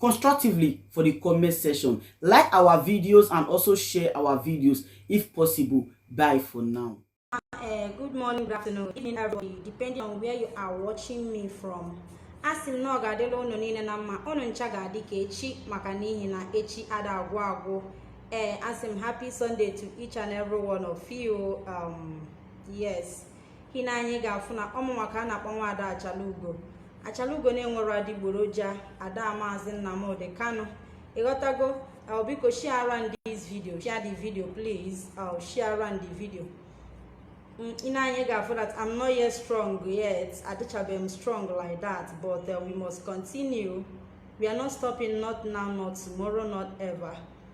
constructively for the comment section. Like our videos and also share our videos if possible. Bye for now. Uh, good morning, good afternoon, good evening, everybody, depending on where you are watching me from. asị m na ọ ga-adịla ụnụ niile na mma ụnụ ncha ga-adị ka echi maka n'ihi na echi ada agwụ agwụ ee eh, asị m happy sunday to each and every one of you um, yes ị nee anya ị ga-afụ na ọ mụnwa ka a na-akpọ nwaada achalugo achalugo na-enwerọ adịgboroja ada maazị nnamdị kanu ịghọtago uh, biko share around this video share the video please uh, share around the video mm, ị nee anya ị ga-afụ that I'm not yet strong yet adịchabeghị m strong like that but uh, we must continue we are not stopping not now not tomorrow not ever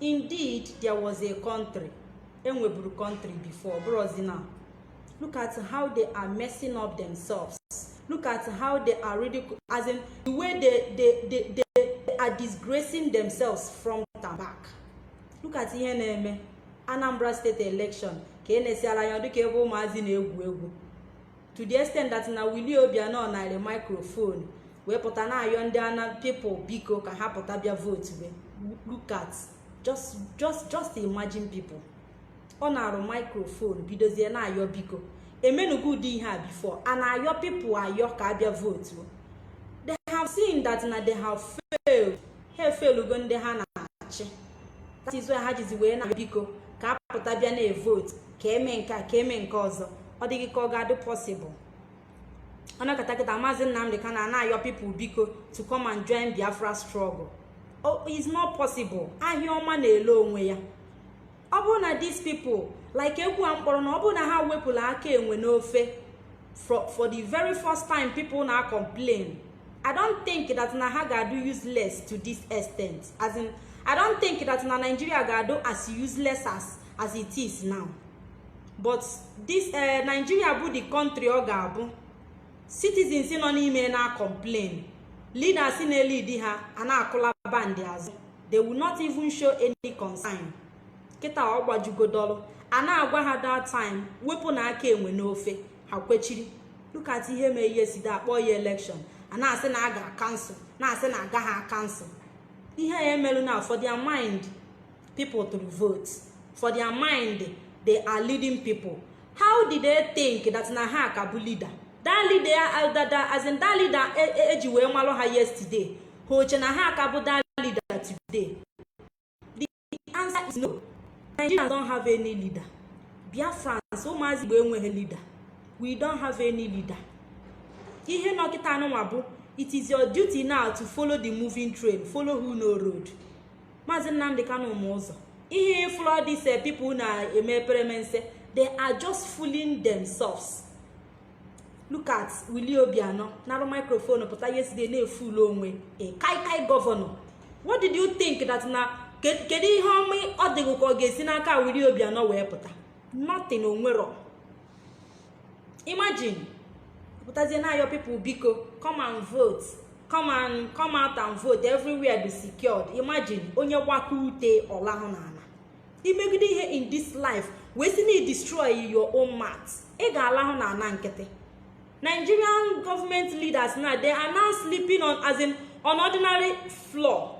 indeed there was a country e nweburu country before bụrụzi na look at how they are messing up themselves look at how they are ridiculous as in the way they, they, they, they, they are disgracing themselves from the back look at ihe na-eme anambra state election ka e nesịala anya ọ dị ka ebe ụmụazị na-egwu egwu to the extent that na Willie Obiano naarụ microphone wee pụta na-ayọ ndị ana people biko ka ha pụta bịa vote be look at just just just imagine people ọ naarụ microphone bidozie na-ayọ biko e menugo ụdị ihe a before a na-ayọ people ayọ ka a bịa vote they have seen that na they have failed ha efelugo ndị ha na-achị that is why ha jizi wee na-ayọ biko ka a pụta bịa na-evote ka e mee nke a ka e mee nke ọzọ ọ dịghị ka ọ ga-adị possible ọ nọkata kịta maazị nnamdị kanu na-ayọ people biko to come and join biafra struggle oh, is not possible ahịa ọma na-ele onwe ya ọ bụrụ na these people like egwu a m kpọrọ na ọ bụrụ na ha wepụla aka enwe n'ofe for the very first time people na-acomplain i don't think that na ha ga-adụ useless to this extent as in i don't think that na nigeria ga-adụ as useless as as it is now but this eh, Nigeria bụ the country ọ ga-abụ citizens nọ n'ime na-acomplain leaders na-elidi ha a na-akụla bandị azụ they will not even show any concern kịta ọ gbajugodolu a na-agwa ha that time wepụnụ aka enwe n'ofe ha kwechiri look at ihe mee ihe si akpọ ya election a na-asị na a ga-acancel na-asị na a gaghị acancel ihe a emerụ na for their mind people to vote for their mind they are leading people how did they think that na ha ka bụ leader that leader uh, as in that leader eji e, e wee malụ ha yesterday ha eche na ha ka bụ that leader today the answer is no nigerians don't have any leader biafrans ụmụazị igbo enweghị leader we don't have any leader ihe nọ kịta anụnwa bụ it is your duty now to follow the moving train follow who know road Maazị Nnamdi Kanu ma ụzọ ihe ị fụlụ these people na-eme eperemense they are just fooling themselves look at Willie Obiano narụ microphone pụta yesterday na-efool onwe ya kai kai gọvanọ what did you think that na kedu ihe ọma ọ dị gị ka ọ ga-esi n'aka Willie Obiano wee pụta nothing o nwerọ imagine pụtazie na-ayọ people biko come and vote come and come out and vote everywhere dụ secured imagine onye waka ute ọ lahụ n'ana i megide ihe in this life wee si na i destroy your own mat ị ga-alahụ n'ana nkịtị nigerian government leaders now they are now sleeping on as in on ordinary floor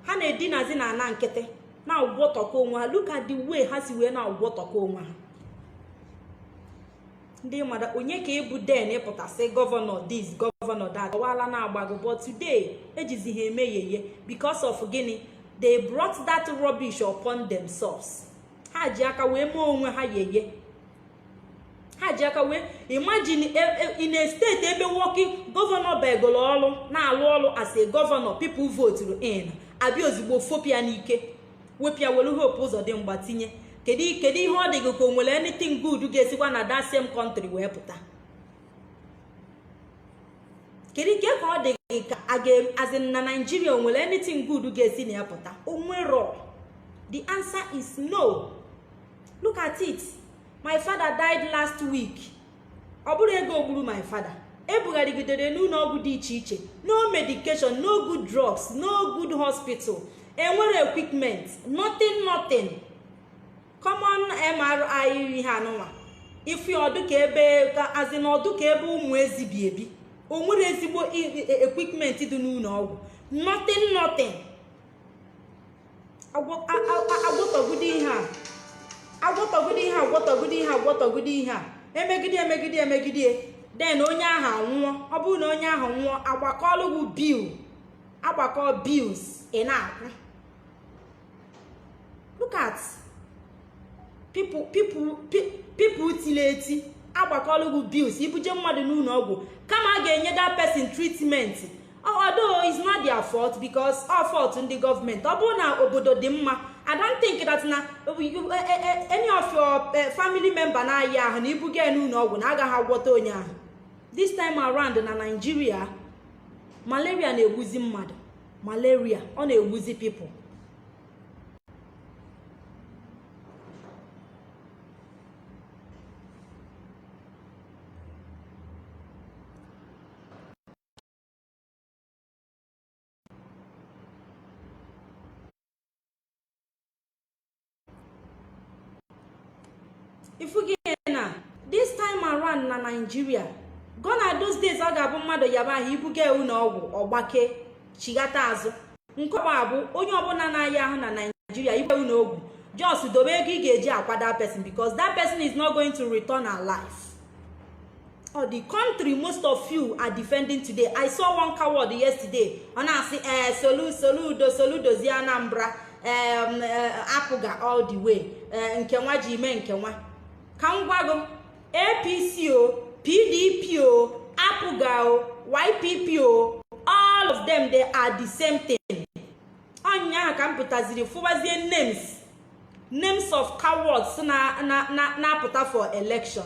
ha na-edinazi n'ana nkịtị na-agwọtọkọ onwe ha look at the way ha si wee na-agwọtọkọ onwe ha ndị mmadụ onye ka ị bụ then ị pụta sị gọvanọ this gọvanọ that ọwala na-agbago but today e jizi ha eme yeye because of gịnị they brought that rubbish upon themselves ha ji aka wee mee onwe ha yeye ha ji aka wee imagine e, e, in a state ebe nwoke gọvanọ begoro ọrụ na-alụ ọrụ as a gọvanọ people voturu in a bịa ozugbo fopụ ya n'ike wepụ ya were Hope Ụzọdịmgba tinye kedu kedu ihe ọ dị gị ka o nwere anything good ga-esikwa na that same country wee pụta kedu ike ka ọ dị gị ka as in na naijiria o nwere anything good ga-esi na ya pụta o nwerọ the answer is no look at it my father died last week ọ bụrọ ego gburu my father e bugharịgidere n'ụnọ ọgwụ dị iche iche no medication no good drugs no good hospital e nwerọ equipment nothing nothing common mri ihe anụnwa ife ọ dụ ka ebe as in ọ dụ ka ebe ụmụ ezi bi ebi o nwerọ ezigbo e, e, equipment dị n'ụnọ ọgwụ nothing nothing agwọtọgide ihe a agwọtọgide ihe agwọtọgide ihe agwọtọgide ihe a emegide emegide emegide then onye ahụ anwụọ ọ bụrụ na onye ahụ nwụọ a gbakọọlụ gị bill a gbakọ bills ị na-akwụ look at people people people tili eti a gbakọọlụ gị bills i buje mmadụ n'ụnọ ọgwụ kama a ga-enye that person treatment although it's not their fault because ọ fault ndị gọọmenti ọ bụrụ na obodo dị mma i don't think that na eh, eh, eh, any of your family member na-aya ahụ na i buga ya n'ụlọ ọgwụ na a gaghị agwọta onye ahụ this time around na Nigeria malaria na-egbuzi mmadụ malaria ọ na-egbuzi people ifugi na this time around na Nigeria gone are those days ọ ga-abụ mmadụ yaba ahụ i buga ya ụnọ ọgwụ ọ gbakee chighata azụ nke ugbu a bụ onye ọbụla na-aya ahụ na Nigeria i buga ya ụnọ ọgwụ just dobe ego ị ga-eji akwa that person because that person is not going to return alive ọ the country most of you are defending today i saw one coward yesterday ọ na-asị ee eh, solu soludo solu dozie anambra eh, apga all the way eh, nke nwa ji ime nke nwa ka m gwa gị apc o pdp o apga o ypp o all of them they are the same thing ọ ụnyaahụ ka m pụtaziri fụbazie names names of cowards na-apụta for election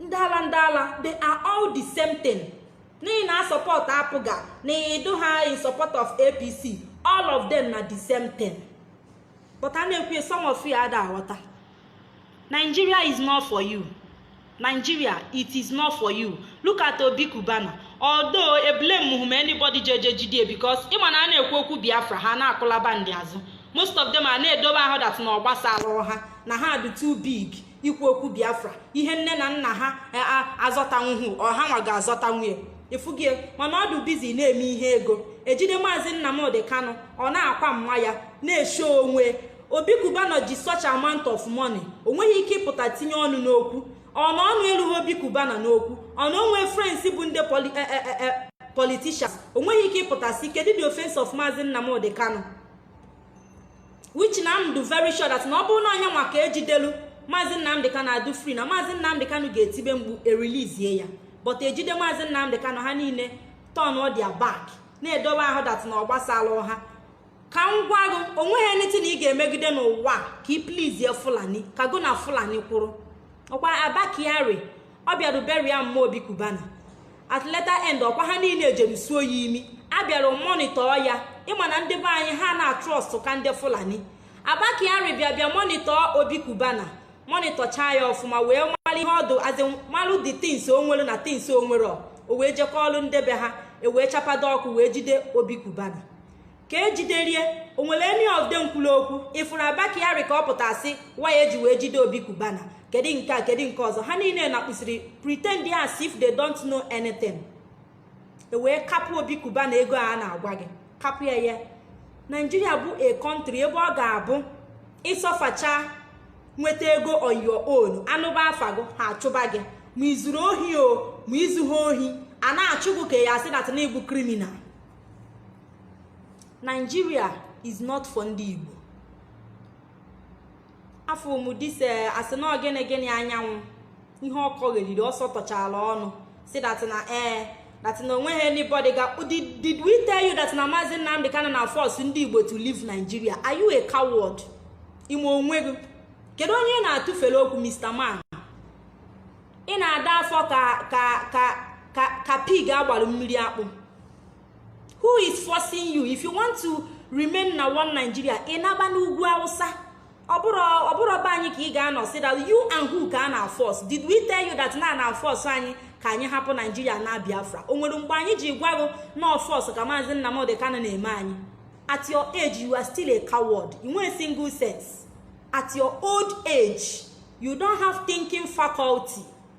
ndị ala ndị ala they are all the same thing na ị na-asupport apga na ị dụha in support of apc all of them na the same thing but a na-ekwu some of you ada aghọta nigeria is not for you nigeria it is not for you look at obi cubana although eblamehu m anybody jeje jidie because ị ma na a na-ekwu okwu biafra ha na-akụlaba ndị azụ most of them a na-edobe ahụ that na ọ gbasarọ ha na ha dị too big ikwu okwu biafra ihe nne na nna ha e, azọtanwuhu ọ hanwa ga-azọtanwu ya efugie mana ọ dụ busy na-eme ihe ego e jide maazị nnamdị kanụ ọ na-akwa mma ya na-esho onwe obi cubana ji such amount of money o nweghị ike ịpụta tinye ọnụ n'okwu ọ na ọnụ erughị obi cubana n'okwu ọ na o nwe friends bụ ndị e, e, politicians o nweghị ike ịpụta sị kedu the offense of maazị nnamdị kanụ which na m dụ very sure that na ọ bụrụ na ọ yanwa ka e jidelu maazị nnamdị kanụ adụ free na maazị nnamdị kanụ ga-etibe mkpu e releasie ya but e jide maazị nnamdị kanụ ha niile turnọ their back na-edobe ahụ that na ọ gbasarọ ha ka m gwa gị o nweghị anything ị ga-emegide n'ụwa ka ị pleasie fulani ka go na fulani kwụrụ ọ kwa abba kyari ọ bịara burial mma obi cubana at later end ọkwa ha niile jere suo ya imi a bịara monitor ya ị ma na ndị be anyị ha na-atrust ka ndị fulani abba kyari bịa bịa monitor obi cubana monitorchaa ya ọfụma wee mara ihe ọ dụ azị malụ the things o nwere na things o nwerọ o wee jekọọlụ ndị be ha e wee chapado ọkụ wee jide obi cubana ka e jiderie o nwere any of them kwuru okwu ị furu abba kyari ka ọ pụta sị why e ji wee jide obi cubana kedu nke a kedu nke ọzọ ha niile nakpụsiri pretend as if they don't know anything e wee kapụ obi cubana ego a na-agwa gị kapụ ya ya nigeria bụ a country ebe ọ ga-abụ ị suffercha nweta ego on your own a nụba afa gị ha achụba gị ma i zuru ohi o ma i zuha ohi a na-achụ gị ka a ya-asị na ị bụ criminal Nigeria is not for ndị Igbo afọ mudise eh, a sị na ọ gịnị gịnị anyanwụ ihe ọ kọgheriri ọ sọtọchara ọnụ sị that na ee eh, that na o nweghị anybody ga did we tell you that na maazị Nnamdi Kanu na-force ndị Igbo to leave Nigeria are you a coward ime onwe gị kedu onye ị na-atụfere okwu Mr. Man ị na-ada afọ ka ka ka ka pig a gbalụ mmiri akpụ who is forcing you if you want to remain na one nigeria ị naba n'ugwu awụsa ọ bụrọ be anyị ka ị ga-anọ sị that you and who ka a na-aforce did we tell you that na a na-aforce anyị ka anyị hapụ nigeria na biafra o nwere mgbe anyị ji gwa gị na ọ force ka maazị nnamdi kanu na-eme anyị at your age you are still a coward i nwee single sense at your old age you don't have thinking faculty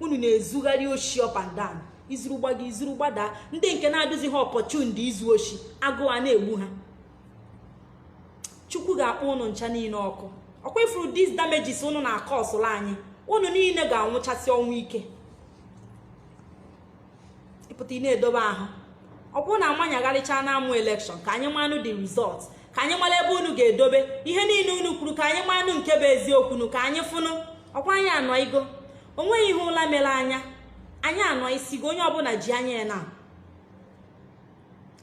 unu na-ezugharị oshi up and down i zuru gbago i zuru gbadaa ndị nke na-adịziha opportuned izu oshi agụụ a na-egbu ha chukwu ga-akpọ unu ncha niile ọkụ ọkwa ị furu these damages unu na-acausụrụ anyị unu niile ga-anwụchasị ọnwụ ike ị pụta ị na-edobe ahụ ọ bụrụ na amanyagharịcha na amụ election ka anyị manụ the result ka anyị mara ebe unu ga-edobe ihe niile unu kwuru ka anyị manụ nke bụ eziokwunu ka anyị fụnụ ọkwa anyị anọigo o nweghị ihe ụla mere anya anyị anọsigo onye ọbụla ji anya ya na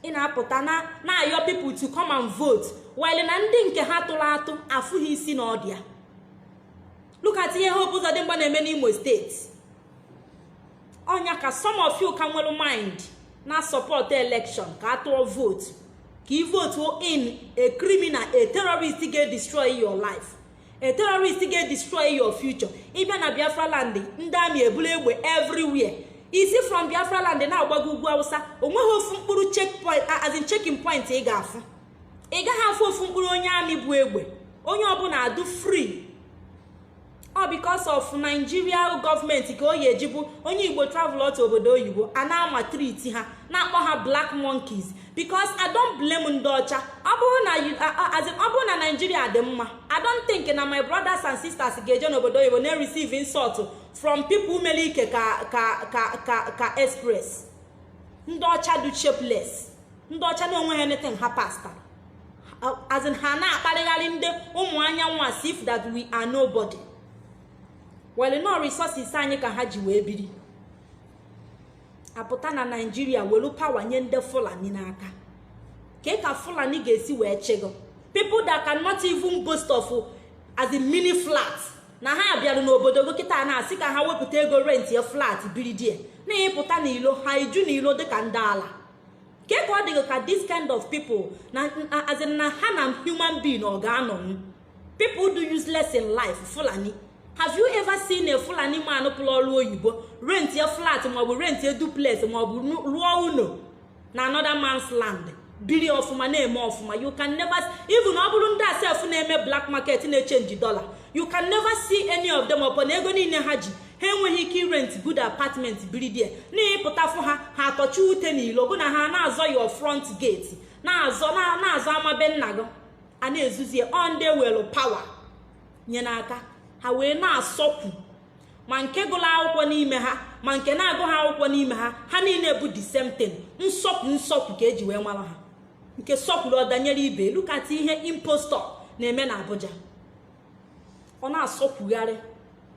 ị na-apụta na-ayọ people to come and vote while na ndị nke ha tụrụ atụ afụghị isi na ọdụ ya look at ihe Hope Uzodimma na-eme n'Imo steeti ọ nya ka some of you ka nwere mind na-asupport election ka a tụọ vote ka ị vote in a criminal a terrorist ga-edestroy your life a terrorist ga-edestroy your future ị bịa na biafra land ndị army ebula egbe everywhere i si from biafra land na-agbago ugwu awụsa o nweghị ofu mkpụrụ checkpoint as in checking point ị ga-afụ ị gaghị afụ ofu mkpụrụ onye army bu egbe onye ọbụla adụ free ọ because of Nigeria gọọmenti ka o yi eji bụ onye igbo travel out obodo oyibo a na-amaltreat ha na-akpọ ha black monkeys because i don't blame ndị ọcha ọ bụrụ na as in ọ bụrụ na Nigeria dị mma i don't think na my brothers and sisters ga-eje n'obodo oyibo na-receive insult from people mere ike ka ka ka ka ka express ndị ọcha dụ shapeless ndị ọcha na onweha anything ha pasta as in ha na-akparịgharị ndị ụmụ anyanwụ as if that we are nobody well na ọ resources anyị ka ha ji wee biri apụta na Nigeria welu power nye ndị fulani n'aka kee ka fulani ga-esi wee chịa gị people that cannot even boast of as in mini flat na ha bịara n'obodo gị kịta na-asị ka ha wepụta ego rentịa flat biri ndị a na ịpụta n'ilo ha eju n'ilo dịka ndị ala ke ka ọ dị gị ka this kind of people na as in na ha na human being ọ ga-anọ people dụ useless in life fulani have you ever seen a fulani man pụrụ ọrụ oyibo rentịa flat maọbụ rentịa duplex maọbụ rụọ ụlọ na another man's land biri ọfụma na-eme ọfụma you can never even ọ bụrụ ndị a sef na-eme black market na-echange dollar you can never see any of them upon ego niile ha ji ha enweghị ike irent good apartment biri ndị a na ịpụta fụ ha ha atọchi ute n'ilo gị na ha na-azọ your front gate na-azọ na-azọ ama be nna gị a na-ezuzie ọ ndị e welu power nye n'aka ha wee na-asọkwu ma nke gụrụ akwụkwọ n'ime ha ma nke na-agụha akwụkwọ n'ime ha ha niile bụ the same thing nsọkwu nsọkwu ka eji wee mara ha nke sọkwuru ọ danyere ibe look at ihe impostor na-eme na Abuja ọ na-asọkwugharị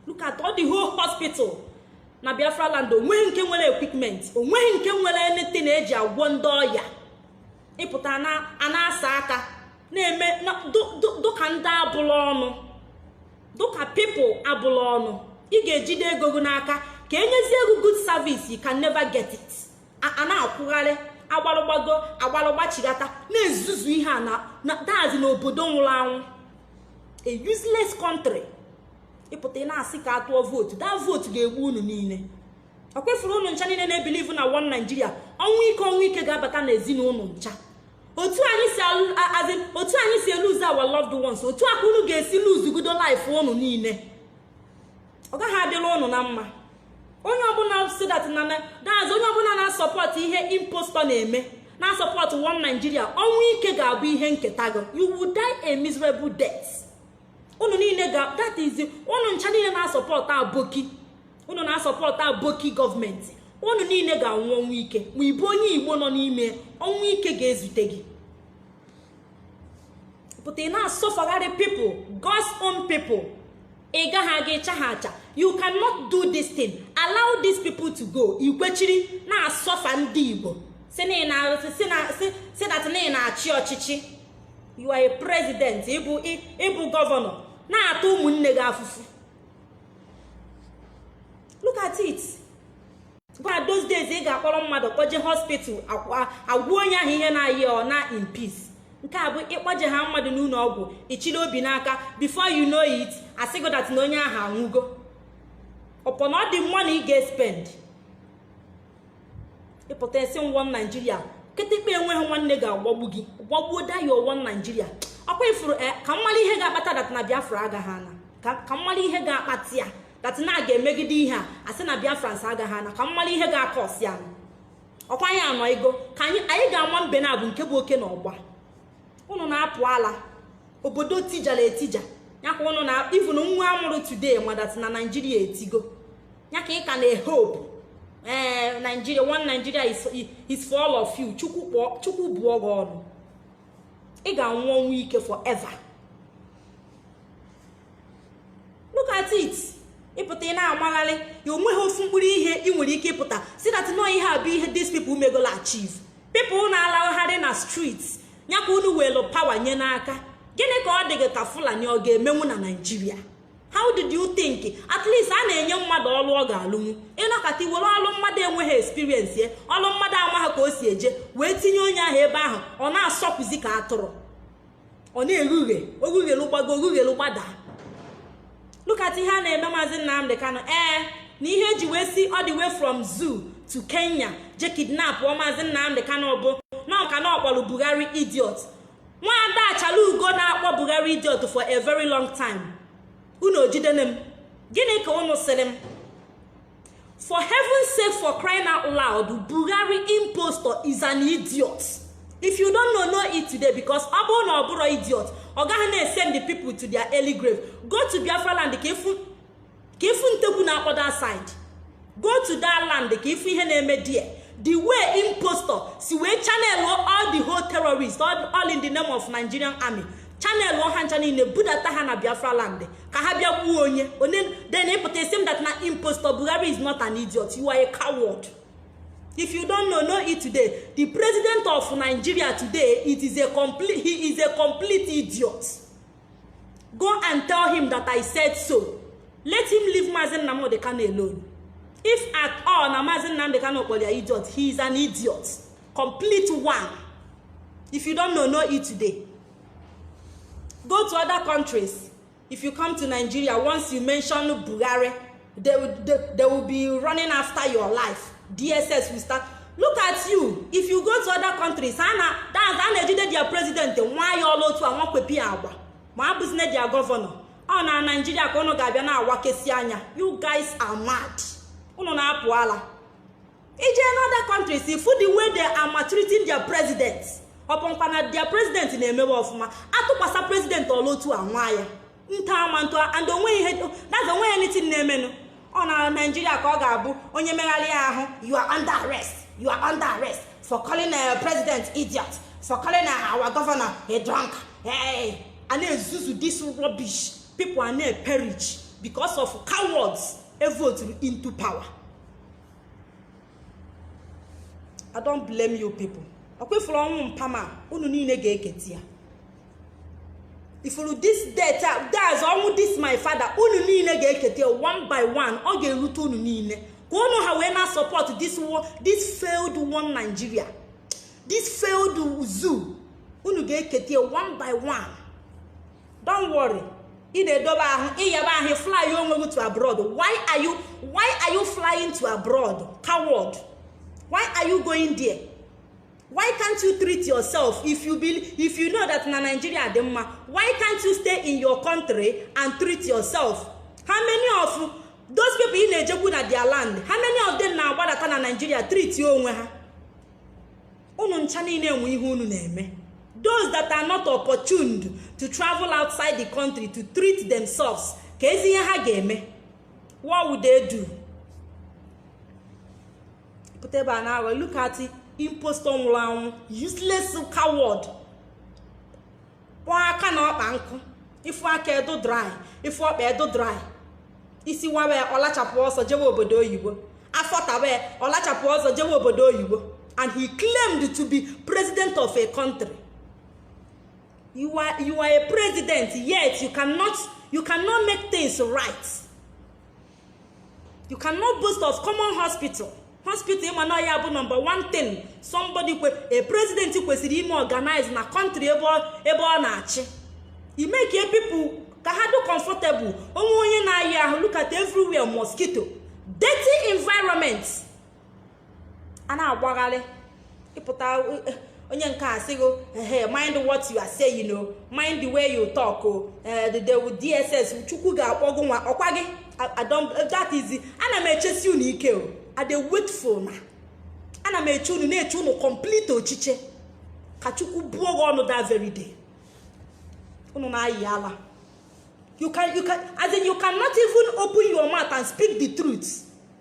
look at all the whole hospital na biafra land onweghị nke nwere equipment onweghị nke nwere anything eji agwọ ndị ọya ịpụta a na-asa aka na-eme dụka ndị abụla ọnụ dụka people abụla ọnụ ị ga-ejide ego gị n'aka ka enyezie gị good service you can never get it a na-akwụgharị a gbalụ gbago a gbalụ gbachigata na-ezuzu ihe a na that is n'obodo nwụrụ anwụ a useless country ịpụta ị na-asị ka atụọ vootu that vootu ga-egbu unu niile ọ kwefuru unu ncha niile na-ebelieve na one Nigeria ọnwụ ike ọnwụ ike ga-abata na ezinụlọ unu ncha otu anyị si as in otu anyị si elose our loved ones otu a ka unu ga-esi lose godo life unu niile ọ gaghị adịrị ụnụ na mma onye ọbụla sị that na that is onye ọbụla na-asupport ihe impostor na-eme na-asupport one Nigeria ọnwụ ike ga-abụ ihe nketa gị you will die a miserable death unu niile ga that is unu ncha niile na-asupport aboki unu na-asupport aboki gọọmenti unu niile ga-anwụ ọnwụ ike ma ịbụ onye igbo nọ n'ime ọnwụ ike ga-ezute gị pụta ị na-asọfagharị people God's own people ị gaghị aga ịcha ha acha you cannot do this thing allow these people to go i kwechiri na-asọfa ndị Igbo sị that na ị na-achị ọchịchị you are a president ị bụ governor na-ata ụmụnne gị afụfụ look at it kwa those days ị ga-akpọrọ mmadụ kpọje hospital a gwọọ onye ahụ ihe na-aya ya ọ naa in peace nke a bụ ịkpọje ha mmadụ n'ụlọ ọgwụ ị chịrị obi n'aka before you know it a sịgo that na onye ahụ anwụgo upon all the money ị ga-espend ị pụta a sị one Nigeria kịtịkpa enweghị nwanne ga-agbagbu gị gbagbuo that your one Nigeria ọ kwa ị fụrụ eh, ka m malụ ihe ga-akpata that na biafra agaghị ana ka m malụ ihe ga-akpata ya that na a ga-emegide ihe a a sị na biafrans agaghị ana ka m malụ ihe ga-acause ya ọ kwa anyị anọ ego ka anyị ga-ama mbe naabọ nke bụ oke na ọgba ụnụ na-apụ ala obodo tijara etija ya ka ụnụ na even nwa a mụrụ today ma that na Nigeria etigo ya ka ị ka na-ehope ee Nigeria one Nigeria is for all of you chukwu bụọ gị ọnụ ị ga-anwụ ọnwụ ike forever look at it ị pụta ị na-amagharị ya o nweghị ofu mkpụrụ ihe ị nwere ike ịpụta sị that no ihe a bụ ihe these people megolo achieve people na-alagharị na street ya ka unu welu power nye n'aka gịnị ka ọ dị gị ka fulani ọ ga-emenwu na Nigeria how did you think at least a na-enye mmadụ ọlụ ọ ga-alụnwu ị nọkata were ọlụ mmadụ enweghị experience ya ọlụ mmadụ amaghị ka o si eje wee tinye onye ahụ ebe ahụ ọ na-asọpụzi ka atụrụ ọ na-eghe ughe o ghee ughelu gbago o ghee ughelu gbada look at ihe a na-eme maazị Nnamdi Kanu ee na ihe e ji wee si all the way from zoo to Kenya je kidnapụọ maazị Nnamdi Kanu bụ na ọ maka na ọ kpọrọ Buhari idiot nwada Achalaugo na-akpọ Buhari idiot for a very long time unu o jidene m gịnị ka unu sịrị m for heaven's sake for crying out loud buhari impostor is an idiot if you don't know know it today because ọ bụrụ na ọ bụrọ idiot ọ gaghị na-esend the people to their early grave go to biafra land ka ị fụ ntigbu na other side go to that land ka ị fụ ihe na-eme there the way impostor si wee channel all the whole terrorists all, all in the name of nigerian army chanel ọha ncha niile budata ha na biafra land ka ha bịa gbuo onye onye then ịpụta isi m dat na impostor buhari is not an idiot you are a coward if you don't know know it today the president of nigeria today it is a complete he is a complete idiot go and tell him that i said so let him leave mazi nnamdi kano alone if at all na mazi nnamdi kano kpọrọ ya idiot he is an idiot complete one if you don't know know it today go to other countries if you come to nigeria once you mention buhari they, will- they, they will be running after your life dss will start look at you if you go to other countries ha na that's a na-ejide their president waa ya ọla otu a nwakwepi ya agwa ma abụzine their governor ọ na nigeria ka unu ga-abịa na-awakesi anya you guys are mad unu na-apụ ala ije e n'other countries ifu the way they are maltreating their president uponkwa na their president na-emewe ọfụma atụkwasa president ọla otu a nwa ya tomato and onweghị ihe that's onweghị anything na-emenụ ọ na Nigeria ka ọ ga-abụ onye megharị ya ahụ you are under arrest you are under arrest for calling a uh, president idiot for calling uh, our governor a drunk hey, a na-ezuzu this rubbish people a na-eperish because of cowards evoturu into power I don't blame you people ọkwa ifuru ọnwụ mpa m a unu niile ga-eketi ya ifuru this death a that's ọnwụ this my father unu niile ga-eketi ya one by one ọ ga-erute unu niile ka unu ha wee na-asupport this wo- this failed one Nigeria this failed zoo unu ga-eketi ya one by one don't worry ị na-edobe ahụ ịyaba ahụ fly onwe gị to abroad why are you why are you flying to abroad coward why are you going there why can't you treat yourself if you be if you know that na nigeria dị mma why can't you stay in your country and treat yourself how many of those people ị na-ejekwu na their land how many of them na-agbadata na nigeria treat onwe ha unu ncha niile enwe ihe unu na-eme those that are not opportuned to travel outside the country to treat themselves keezi ihe ha ga-eme what would they do pụta ebe a na-aghọ look at impostor nwụrụ anwụ useless coward kpọọ aka na ọkpa nkụ ifu aka edo dry ifu ọkpa edo dry isi wawe ọlachapụ ọsọ jewe obodo oyibo afọ tawe ọlachapụ ọsọ jewe obodo oyibo and he claimed to be president of a country you are, you are a president yet you cannot, you cannot make things right you cannot boast of common hospital hospital ịma na ya bụ number one thing somebody kwe a president kwesịrị ime organize na country ebe ọ na-achị imake people ka ha dị comfortable onwe onye na-ayị ahụ look at everywhere mosquito dirty environment a na-agbagharị ịpụta e, onye nke a sịgo ehe mind what you are saying o mind the way you talk o eh, the dss chukwu ga-akpọ gị nwa ọkwa gị that is ana m echesi unu ike o i dey wait for una ana m eche unu na-eche unu complete ochiche ka chukwu bụọ gị ọnụ that very day unu na-ayi ala you can you can as in you cannot even open your mouth and speak the truth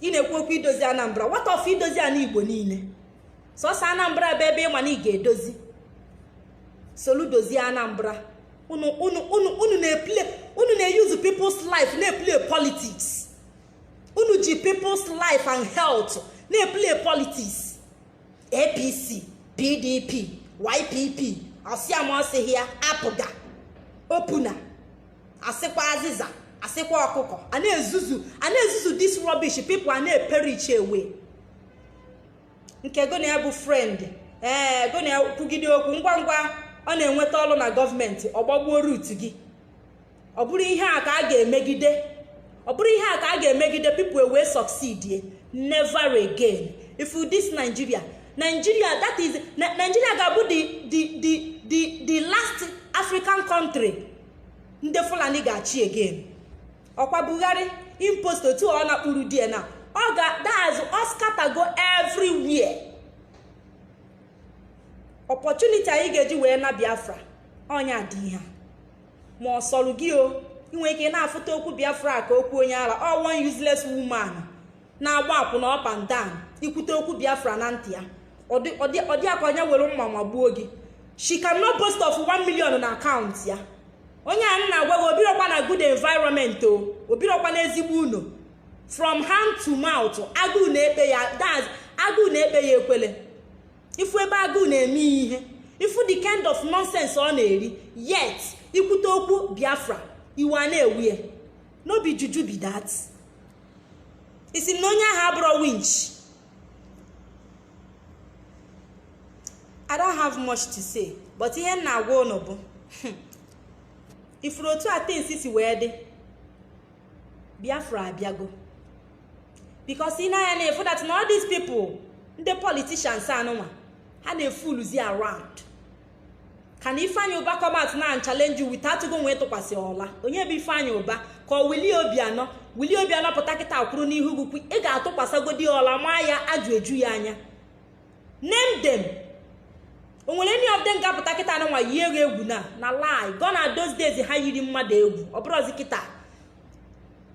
ị na-ekwu okwu idozi anambra what of idozi ana igbo niile sọsọ anambra bụ ebe ịma na ị ga-edozi soludozie anambra unu na-eplay unu na-euse people's life na-eplay politics unu ji people's life and health na-eplay politics apc pdp ypp ọsịa ma ọsịghị ya apga opuna asịkwa azịza asịkwa ọkụkọ a na-ezuzu a na-ezuzu this rubbish people a na-eperish away nke gị na ya bụ friend ee eh, gị na ya kwugide okwu ngwa ngwa ọ na-enweta ọlụ na gọọmenti ọ gbagbuo root gị ọ bụrụ ihe a ka a ga-emegide ọ bụrụ ihe a ka a ga-emegide people ewee succeed never again ị fụ this nigeria nigeria that is nigeria ga-abụ the the the the last african country ndị fulani ga-achị again ọkwa buhari impostor otu ọ na-akpụrụ di ya na ọ ga that's ọ scattergo everywhere opportunity anyị ga-eji wee naa biafra ọnya dị ihe ma ọ sọrọ gị o i nwee ike na-afụta okwu biafra ka okwu onye ara ọ one useless woman na-agba akwụna up and down i kwute okwu biafra na ntị ya ọ dị ya ka onye were mma magbuo gị she cannot boast of 1 million na account ya onye a m na-agwa gị o birokwa na good environment o birokwa na ezigbo ụnọ from hand to mouth agụụ na-ekpe ya that's agụụ na-ekpe ya ekwele ị fụ ebe agụụ na-eme ya ihe ị fụ the kind of nonsense ọ na-eri yet i kwute okwu biafra iwe a na-ewe ya no be juju be that. ị sị m na onye ahụ abụrọ winch i don't have much to say but ihe m na-agwa ụnụ bụ hmm, ị fụrụ otu a things si wee dị biafra abịago because ị nee anya na-afụ that na all these people ndị politicians anụnwa ha na-efooluzi around Can Ifeanyi Uba come out now and challenge you without gị ewee tụkwasị ụla onye bụ Ifeanyi Uba ka ọ Willie Obianọ Willie Obianọ pụta kịta kwụrụ n'ihu gị ị ga-atụkwasagodi ụla maa ya ajụ eju ya anya name them o nwere any of them ga-apụta kịta anụnwa yie gị egwu na na lie gone are those days ha yiri mmadụ egwu ọ bụrọzi kịta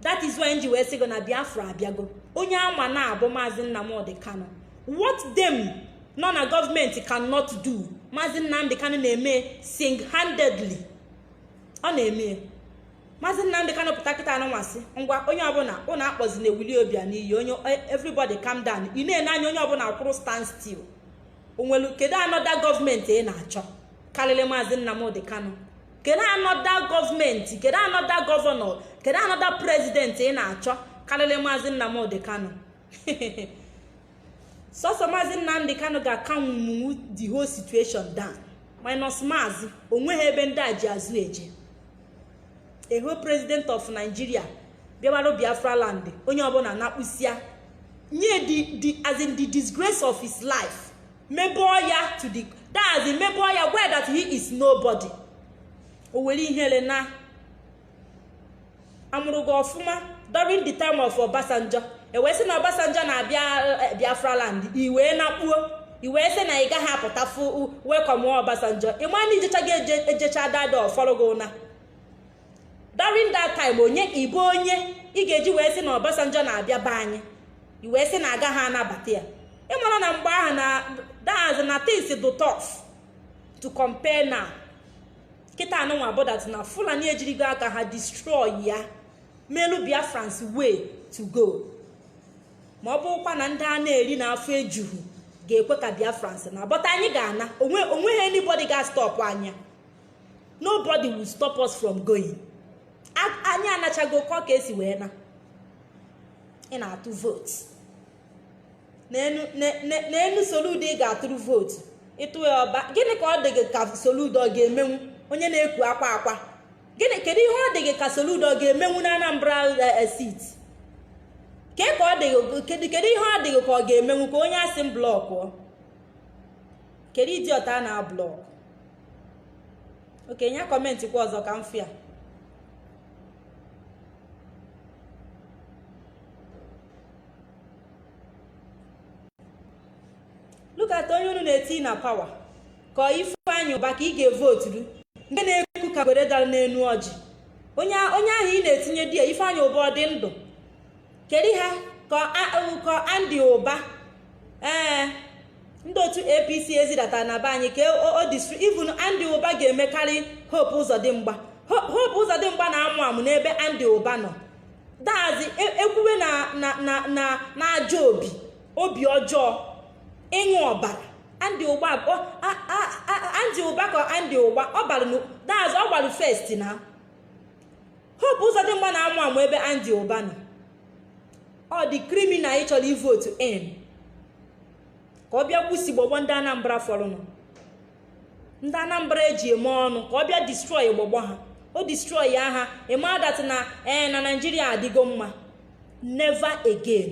that is why m ji wee sị gị na biafra abịago onye a ma na ọ bụ maazị nnamdị kanu what them nọ na gọọmenti cannot do maazị nnamdị kanu na-eme single-handedly ọ na-eme maazị nnamdị kanu pụta kịta anụnwa sị ngwa onye ọbụla ụnụ akpọzina willie obianọ iyi onye e, everybody calm down ị na-ele anya onye ọbụla kwụrụ stand still o nwelu kedu another gọọmenti ị na-achọ karịrị maazị nnamdị kanu kedu another gọọmenti kedu another governor kedu another president ị na-achọ karịrị maazị nnamdị kanu sọsọ maazị nnamdị kanu ga-acalmnwu the whole situation down minus maazị o nweghị ebe ndị a ji azụ eje a whole president of nigeria bịawarụ biafra land onye ọbụla na-akpụsịa nye the as in the disgrace of his life mebọọ ya to the that's the mebọọ ya where that he is nobody o nwere ihere na a mụrụ gị ọfụma during the time of Obasanjo e wee sị na Obasanjo na-abịa eh, Biafra land i wee nakpuo i wee sị na ị gaghị apụta fụ welcome Obasanjo ị ma na ijecha gị ejecha dada ọfọrọ gị ụna during that time onye ị bụ onye ị ga-eji wee sị na Obasanjo na-abịa be anyị i wee sị na agaghị anabata ya ị mara na mgbe ahụ na that's na things dị tough to compare now kịta anụnwa bụ that na Fulani ejirigo aka ha destroy ya melu Biafrans way to go ma ọ bụkwa na ndị a na-eri na afọ ejuhu ga-ekwe ka Biafrans naa but anyị ga-ana o nweghị anybody ga-stop anyị nobody will stop us from going anyị anachago kọ ka e si wee na ị na-atụ vote n'enu Soludo ị ga-atụrụ vote ị tụ ya ọ bụ gịnị ka ọ dị gị ka Soludo ọ ga-emenwu onye na-ekwu akwa akwa gịnị kedu ihe ọ dị gị ka Soludo ọ ga-emenwu na Anambra eh, eh, State ka ọ dị gị kedu ihe ọ dị gị ka ọ ga-emenwu ka onye a sị m blọkụ kedu idiot a na-ablọkụ okay nye comment kwa ọzọ ka m fụ ya look at onye unu na-eti na power ka Ifeanyị Ụba ka ị ga-evoturu nke na-ekwu ka ngwere dara n'enu ọjị onye onye ahụ ị na-etinye there Ifeanyị Ụba ọ dị ndụ kedu ha ka nkọ Andy Ụba ee eh, ndị otu APC e zidata na be anyị ka o destroy even Andy Ụba ga-emekarị Hope Ụzọdịmgba Hope Ụzọdịmgba na-amụ amụ n'ebe Andy Ụba nọ that is e, ekwuwe na na na na na ajọ obi obi ọjọọ ịṅụ ọbara Andy Ụba Andy Ụba ka Andy Ụba ọ gbara that is ọ gbara first na Hope Ụzọdịmgba na-amụ amụ ebe Andy Ụba nọ ọ dị criminal ị chọrọ ivotu in ka ọ bịa gbusi gbagbuo ndị Anambra fọrọnụ ndị Anambra eji eme ọnụ ka ọ bịa destroy gbagbuo ha o destroy ya ha ị ma that na ee eh, na Nigeria adịgo mma never again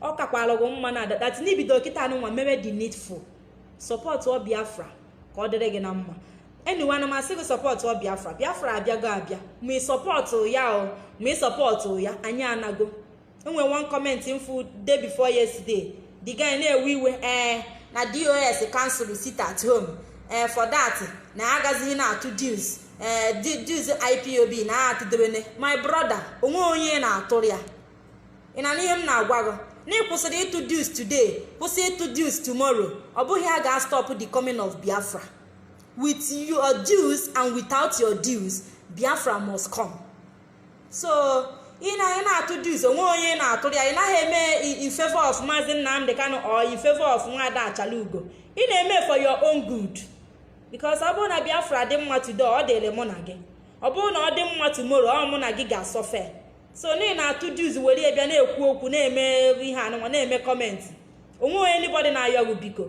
ọ kakwara gị mma na that na i bido kịta anụnwa mewe the needful supportụọ Biafra ka ọ dịrị gị na mma anyway ana m asị gị sọpọtụ ọ biafra biafra abịago abịa ma ị sọpọtụ ya o ma ị sọpọtụ ya anyị anago e nwe one comment m fụ day before yesterday the guy na-ewe iwe ee eh, na dos cancel sit at home ee eh, for that na agazighị na-atụ dues ee eh, dues ipob na atụdebene my brother o nwe onye na-atụrụ ya ị na ihe m na-agwa gị na ị kwụsịrị ịtụ dues today kwụsị ịtụ dues tomorrow ọ bụghị ya ga-astọpụ the coming of biafra with your dues and without your dues biafra must come so ị na ị na-atụ dues o nwe onye ị na-atụrụ ya ị naghị eme i- in favor of maazị nnamdị kanu or in favor of nwada achalugo ị na-eme for your own good because ọ bụrụ na biafra dị mma today ọ dịrị mụ na gị ọ bụrụ na ọ dị mma tomorrow ọ mụ na gị ga-asọfe so na ị na-atụ dues were ya bịa na-ekwu okwu na-eme ihe anụnwa na-eme comment o nwe onye anybody na-ayọ gị biko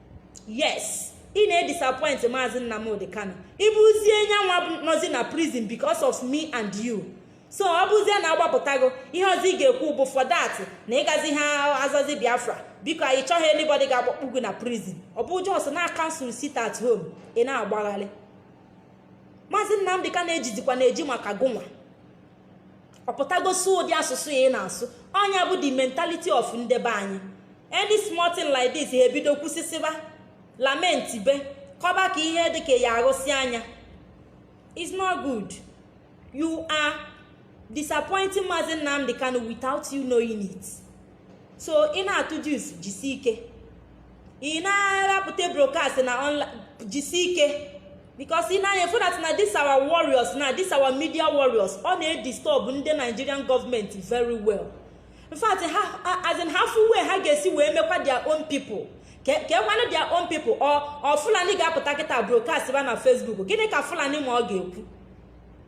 yes ị na-edisappoint maazị nnamdị kanu ịbụzie nyanwa nọzi na prison because of me and you so ọ bụzie na agbapụtago ihe ọzọ ị ga-ekwu bụ for that na ị gaziha azazi biafra biko anyị chọghị anybody ga-agbakpu gị na prison ọ bụ just na cancel sit at home ị na-agbagharị maazị nnamdị kanu e jizikwa na-eji maka gụnwa ọ pụtagosi ụdị asụsụ a ị na-asụ ọ nya bụ the mentality of nde be anyị any small thing like this ha ebido kwusisiba lamentibe kọba ka ihe dịka ya arụsị anya it's not good you are disappointing Mazi Nnamdi Kanu without you knowing it. so ị na-atụ dues jisi ike ị na-apụta broadcast na online jisi ike because ị na-anya efu that na this our warriors na this our media warriors ọ na-edisturb ndị nigerian government very well in fact ha as in ha fụ way ha ga-esi wee mekwa their own people kee kwanụ their own people ọ fulani ga-apụta kịta broadcast ba na facebook gịnị ka fulani ma ọ ga-ekwu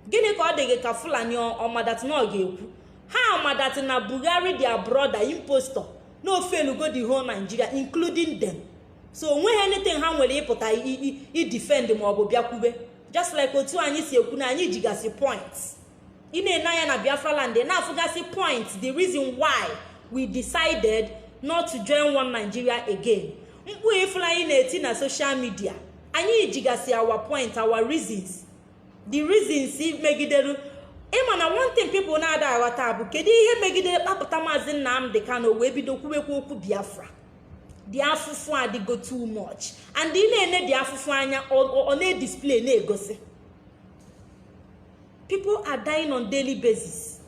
gịnị ka ọ dị gị ka fulani ma that na ọ ga-ekwu ha ma that na buhari their brother impostor na o failugo the whole nigeria including them so o nweghị anything ha nwere ịpụta idefend maọbụ bịa kwube just like otu anyị si ekwu na anyị jigasị point ị na-ene anya na biafra land na-afụgasị point the reason why we decided not to join one nigeria again mkpu ị fụlụ anyị na-eti na social media anyị jigasị our point our reasons the reasons megidere ị ma na one thing people na-ada aghọta bụ kedu ihe megidere kpapụta maazị nnamdị kanu wee bido kwubekwa okwu biafra the afụfụ adịgo too much and ị na-ene the afụfụ anya ọ na-edisplay na-egosi people are dying on daily basis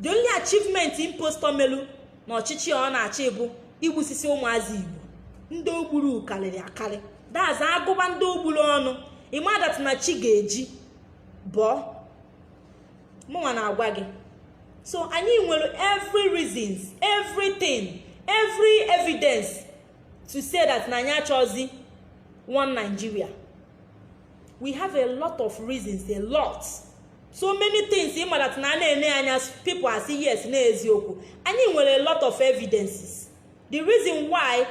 the only achievement impostor melu na ọchịchị ọ na-achị bụ igbusisi ụmụazị igbo ndị o gburu karịrị akarị that's a gụba ndị o gburu ọnụ ị ma that na chi ga-eji bọọ mụnwa na-agwa gị so anyị nwere every reasons everything every evidence to say that na anyị achọzi one Nigeria we have a lot of reasons a lot so many things ị ma that na a na-ene anya people asị yes na eziokwu anyị nwere a lot of evidences the reason why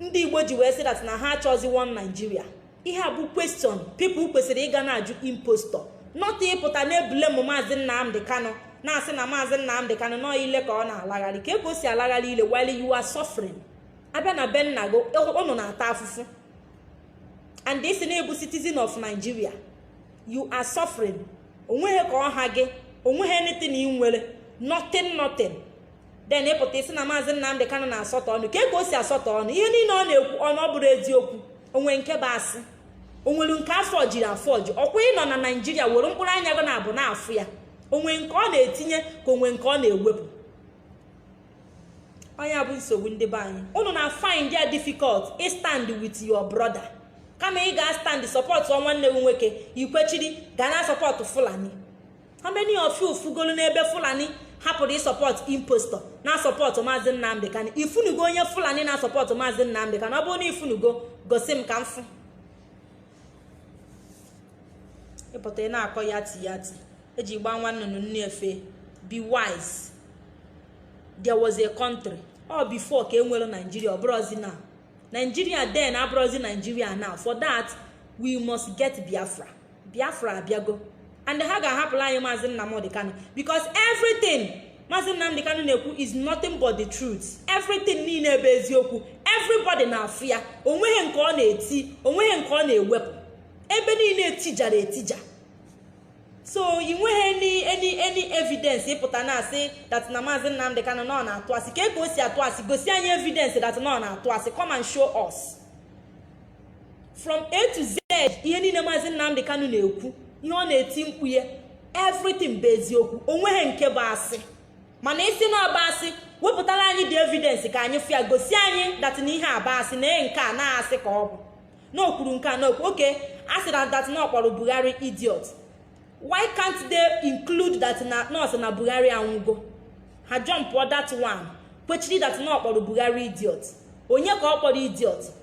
ndị igbo ji wee sị that na ha achọzi one nigeria ihe a bụ question people kwesịrị ịga na-ajụ impostor not ịpụta na-eblame maazị nnamdị kanu na-asị na maazị nnamdị kanu na ọ ile ka ọ na-alagharị kee ka o si alagharị ile while you are suffering a bịa na be nna gị unu na-ata afụfụ and ị sị na ị bụ citizen of nigeria you are suffering onweghị ka ọ ha gị onweghị anything ị nwere nothing nothing then ị pụta ị sị na maazị nnamdị kanu na-asọtọ ọnụ kee ka o si asọtọ ọnụ ihe niile ọ na-ekwu ọnụ ọ bụrọ eziokwu onwe nke bụ asị onwere nke a fọjiri afọji ọkwa ị nọ na nigeria were mkpụrụ anya gị nabọ na-afụ ya onwe nke ọ na-etinye ka onwe nke ọ na-ewepụ ọ nya bụ nsogbu ndị be anyị unu na find ya difficult ịstand with your brother kama ị ga stand support nwanne gị nwoke i kwechiri ga na support fulani how many of you fụgolu n'ebe fulani hapụrụ ịsupport impostor na support maazị nnamdị kanu ị fụnugo onye fulani na support maazị nnamdị kanu ọ bụrụ na ị fụnugo gosi m ka m fụ ị pụta ị na-akọ ya ti ya ti eji gbaa nwa nnụnụ nne efe be wise there was a country o before ka e nwere nigeria ọ bụrọzi now nigeria then abụrọzi nigeria now for that we must get biafra biafra abịago and ha ga-ahapụlụ anyị maazị nnamdị kanu because everything maazị nnamdị kanu na-ekwu is nothing but the truth everything niile bụ eziokwu everybody na-afụ ya onweghị nke ọ na-eti onweghị nke ọ na-ewepụ ebe niile etijara etija so ị nweghị any any evidence ị pụta na-asị that na maazị nnamdị kanu na ọ na-atụ asị kee ka o si atụ asị gosi anyị evidence that na ọ na-atụ asị come and show us. from a to z ihe niile maazị nnamdị kanu na-ekwu ihe ọ na-eti mkpu ya everything bụ eziokwu onweghị nke bụ asị mana ị sị na ọ bụ asị wepụtara anyị the evidence ka anyị fụ ya gosi anyị that na ihe a bụ asị na nke a na-asị ka ọ bụ na o kwuru nke a na okwu okay a sị na that na ọ kpọrọ buhari idiot why can't they include that na ọ sị na buhari anwụgo ha jumpụọ that one kwechiri that na ọ kpọrọ buhari idiot onye ka ọ kpọrọ idiot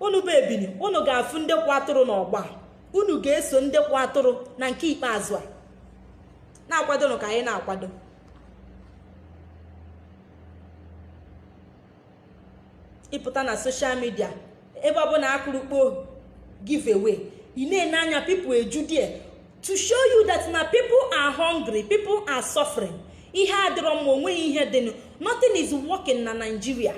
unu bụ ebini unu ga-afụ ndị kwa atụrụ n'ọgba unu ga-eso ndị kwa atụrụ na nke ikpeazụ a na-akwadonụ ka anyị na-akwado ịpụta na soshal midia ebe ọbụla akụrụkpo giveaway ị na-ene anya people eju die to show you that na people are hungry people are suffering ihe adịrọ mma onweghị ihe dịnụ nothing is working na Nigeria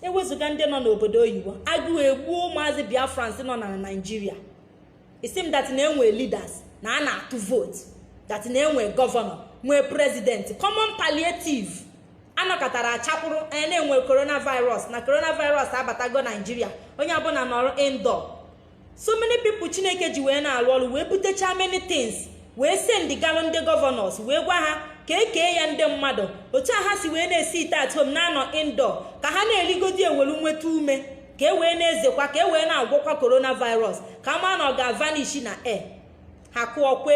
ewezuga ndị nọ n'obodo oyibo agụụ egbuo ụmụazị biafrans nọ na naijiria it seem that na-enwe leaders na a na-atụ vote that na-enwe gọvanọ nwee prezidenti common palliative anọkatara achakwụrụ anya na enwere coronavirus na coronavirus abatago naijiria onye ọbụla nọrọ indoor so many people chineke ji wee na-alụ ọrụ wee butecha many things wee send galụ ndị gọvanọs wee gwa ha ka ekee ya ndị mmadụ otu a ha si wee na-esi ite at home na-anọ indoor ka ha na-erigodi ewelu nweta ume ka e wee na-ezekwa ka e wee na-agwọkwa coronavirus ka a ma na ọ ga-avanish na air ha kụọ kwe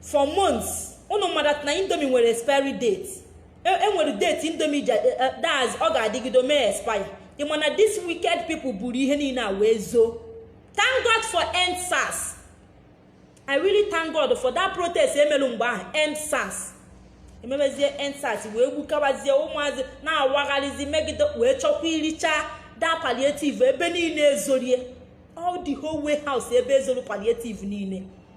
for months unu madụ na indomi nwere expiry date enwere e date indomi e, e, that's ọ ga-adịgide mee expire ị ma na these wicked people buru ihe niile a wee zoo thank god for end sars i really thank god for that protest emelu mgbe ahụ end sars emebezie end sars wee gbukabazie ụmụazị na-awagharịzi megide wee chọkwuricha da palliative ebe niile ezorie all the whole warehouse ebe ezoro palliative niile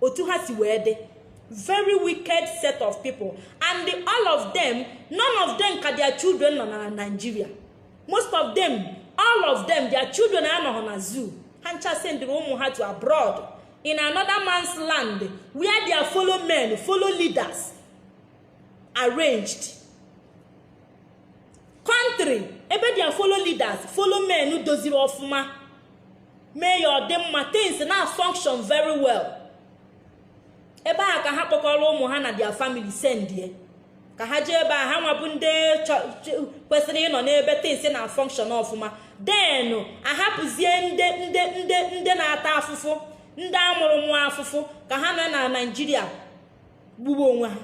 otu ha si wee dị very wicked set of people and the, all of them none of them ka their children nọ na nigeria most of them all of them their children anọghọ na zoo ha ncha sendịrị ụmụ ha to abroad in another man's land where their follow men follow leaders arranged country ebe their follow leaders follow men doziri ọfụma mee ya ọ dị mma things na-afunction very well ebe a ka ha kpọkọrọ ụmụ ha na their family sendie ka ha jee ebe a ha nwabụ ndị kwesịrị ịnọ n'ebe things na-afunction ọfụma then ahapụzie ndị ndị ndị ndị na-ata afụfụ ndị amụrụ mụa afụfụ ka ha nọ na naijiria gbugbu onwe ha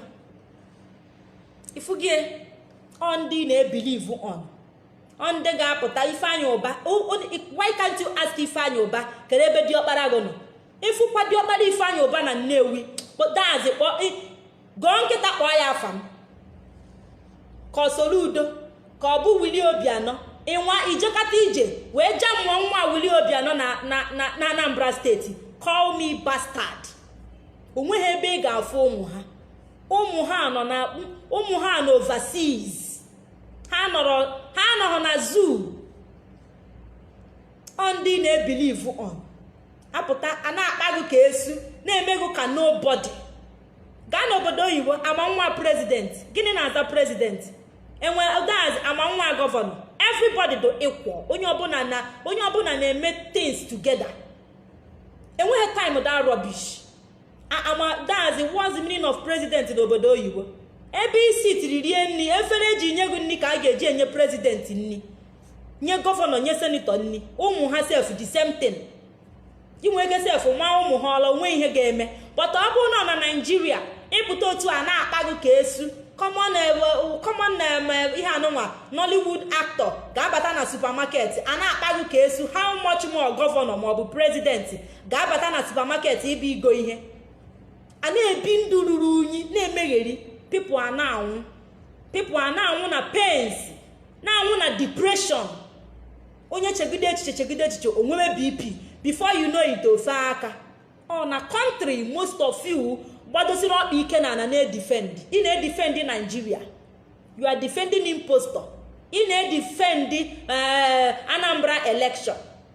ifugie ọ ndị na-ebilivu on ọ ndị ga-apụta ifeanyị ụba why can't you ask ifeanyị ụba kere ebe diọkpara gị nọ ịfụkwa diọkpara ifeanyị ụba na nnewi dazi kpọọ gụọ nkịta kpọọ ya afa m ka ọ soludo ka ọ bụ wili obianọ ịnwa ijekata ije wee ja mmụọ nwa wili obianọ na anambra steeti call me bastard onweghị ebe ị ga-afụ ụmụ ha ụmụ ha nọ na ụmụ ha na overseas ha nọrọ na zoo ọ ndị na-ebilivu on apụta a na-akpa gụ ka esu na-eme gụ ka nobody gaa n'obodo oyibo ama nwa prezidenti gịnị na-aza prezidenti enwe daz ama nwa gọvanọ everybody dụ equal onye ọbụla na-eme things together enweghị time that rubbish that's what's the meaning of president n'obodo oyibo ebe i sitiri rie nni efere eji nye gụ nni ka a ga-eji enye president nni nye gọvanọ nye senetọ nni ụmụ ha sef the same thing i nwe ike sef maa ụmụ ha ụla o nwe ihe ga-eme but ọ bụrụ na na naijiria ị pụta otu a na-akpa gụ ka esu common eh, um, eh, ihe anụnwa nollywood actor ga-abata na supermarket a na-akpa gụ ka esu how much more gọvanọ maọbụ prezidenti ga-abata na supamaket ịbịa igo ihe a na-ebi ndụ ruru unyi na-emegheri pipụ a na-anwụ pipụ a na-anwụ na pains na-anwụ na depression onye chegide echiche chegide echiche o nwewe bp before you know it o fee aka ọ na kọntrị most of you gbadosiri ọkpa ike na ala na-edifend ị na-edifend naijiria you are defending impostor ị na-edifend eh, anambra election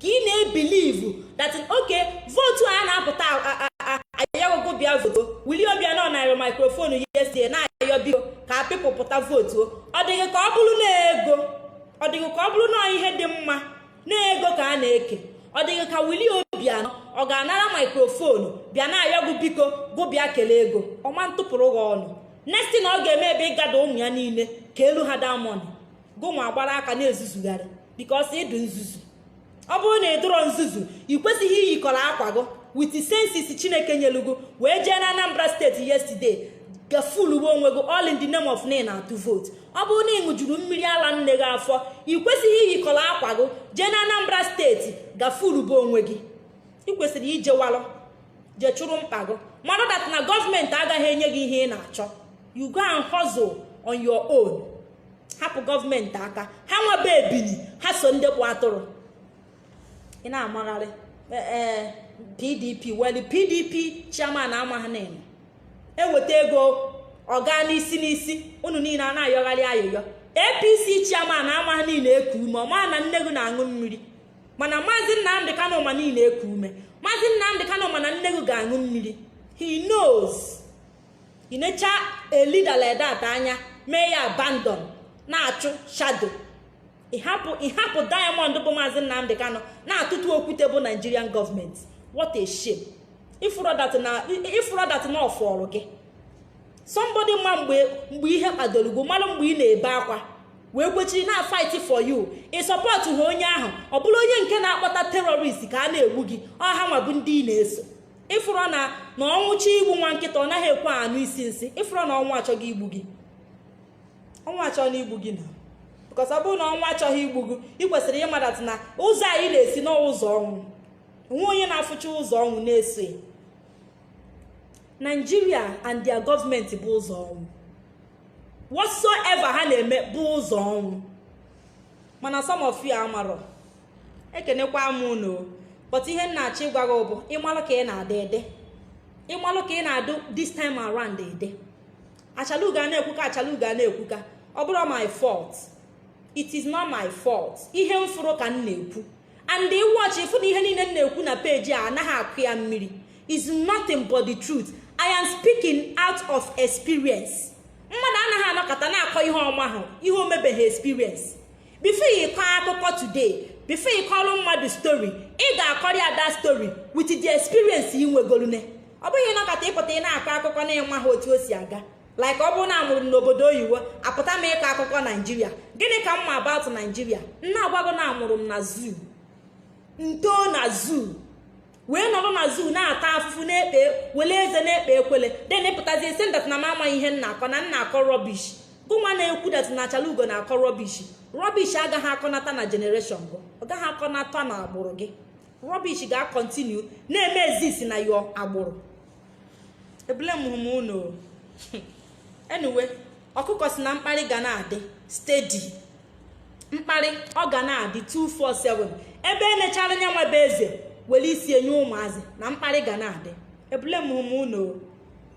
ka ị na-ebilivu that okay vootu a na-apụta ayọ gụ gụ bịa vootu willie obiano nara maikrofonu yesterday na-ayọ biko ka pipụ pụta vootu ọ dịghị ka ọ bụrụ na ego ọ dịghị ka ọ bụrụ na ihe dị mma na ego ka a na-eke ọ dịghị ka willie obiano ọ ga-anara maikrofonu bịa na-ayọ gụ biko gụ bịa kele ego ọ ma ntụpụrụ gị ọnụ next thing ọ ga-eme bụ ịgada ụmụ ya niile keelu ha that money gụnwa agbara aka na-ezuzugharị because ị dụ nzuzu ọ bụrụ na ị dụrọ nzuzu ị kwesịghị iyikọrọ akwa gị with senses chineke nyelu gụ wee jee na anambra steeti yesterday ga fuluwe onwe gị all in the name of na m na-atụ vootu ọ bụrụ na ị ṅụjuru mmiri ala nne gị afọ ị kwesịghị iyikọrọ akwa gị jee na anambra steeti ga fuluwe onwe gị ị kwesịrị ijewalụ jee chụrụ mkpa gị mara that na gọọmenti agaghị enye gị ihe ị na-achọ you go and hustle on your own hapụ gọọmenti aka ha nwebe ebili ha so ndị bụ atụrụ ị na-amagharị pdp e, e, weli pdp chairman amaghị na ị nọ e weta ego ọ gaa n'isi n'isi unu niile a na-ayọgharị ayịyọ apc chairman amaghị na ị na eku ume ọ ma na nne gị na-aṅụ mmiri mana maazị nnamdị kanụ ma na ị na eku ume maazị nnamdị kanụ ma na nne gị ga-aṅụ mmiri he knows ị necha a leader like that anya mee ya abandon na-achụ shadow ị hapụ diamond bụ maazị nnamdị kanụ na-atụtụ okwute bụ nigerian government what a shame ị fụrọ that na ọ fọrọ gị somebody ma mgbe ihe kpadoro gị mara mgbe ị na-ebe akwa wee kwechiri na-fight for you ị sọpọtụha onye ahụ ọ bụrụ onye nke na-akpọta terrorist ka a na-egbu gị ọ hanwa bụ ndị ị na-eso ị fụrọ na ọnwụ chọọ igbu nwa nkịta ọ naghị ekwe anụ isi nsị ị fụrọ na ọnwụ achọgo igbu gị ọnwụ achọna igbu gị na because ọ bụrụ na ọnwụ achọghị igbu gị ị kwesịrị ịmadatụ na ụzọ anụ ị na-esi na ọ ụzọ ọnwụ o nwere onye na-afụcha ụzọ ọnwụ na-eso ya nigeria and their government bụ ụzọ ọnwụ whatsoever ha na-eme bụ ụzọ ọnwụ mana some of you amarọ ekenekwa m unu but ihe m na-achọ ịgwa gị bụ ị malụ ka ị na-ada ede ị malụ ka ị na-adụ this time around ede achalugo a na-ekwuka achalugo a na-ekwuka ọ bụrọ my fault it is not my fault ihe m fụrụ ka m na-ekwu and ị watch ị fụ na ihe niile m na-ekwu na page a anaghị akụ ya mmiri is nothing but the truth i am speaking out of experience mmadụ anaghị anọkata na-akọ ihe ọ mahụ ihe o mebeghị experience before ị kọọ akụkọ today before ị kọọrọ mmadụ story ị ga-akọrọ ya that story with the experience ị nwegorune ọ bụghị ị nọkata ị pụta ị na-akọ akụkọ na ị maha otu o si aga like ọ bụrụ na a mụrụ m n'obodo oyibo apụta m ịkọ akụkọ naijiria gịnị ka m ma about naijiria m na-agwa gị na a mụrụ m na zoo m too na zoo wee nọrọ na zoo na-ata afụfụ na-ekpe wele eze na-ekpe ekwele then ị pụtazie sị m that na m amaghị ihe m na-akọ na m na-akọ rubbish gụnwa na-ekwu that na achalugo na-akọ rubbish rubbish agaghị akọnata na generation gụ ọ gaghị akọnata na agbụrụ gị rubbish ga-continue na-eme exist na your agbụrụ eblamehụ m unu anyway ọkụkọ sị na mkparị ga na-adị steady mkparị ọ ga na-adị 247 ebe e nechara nya enwebe eze were isi ya nye ụmụazị na mkparị ga na-adị eblamehụ m unu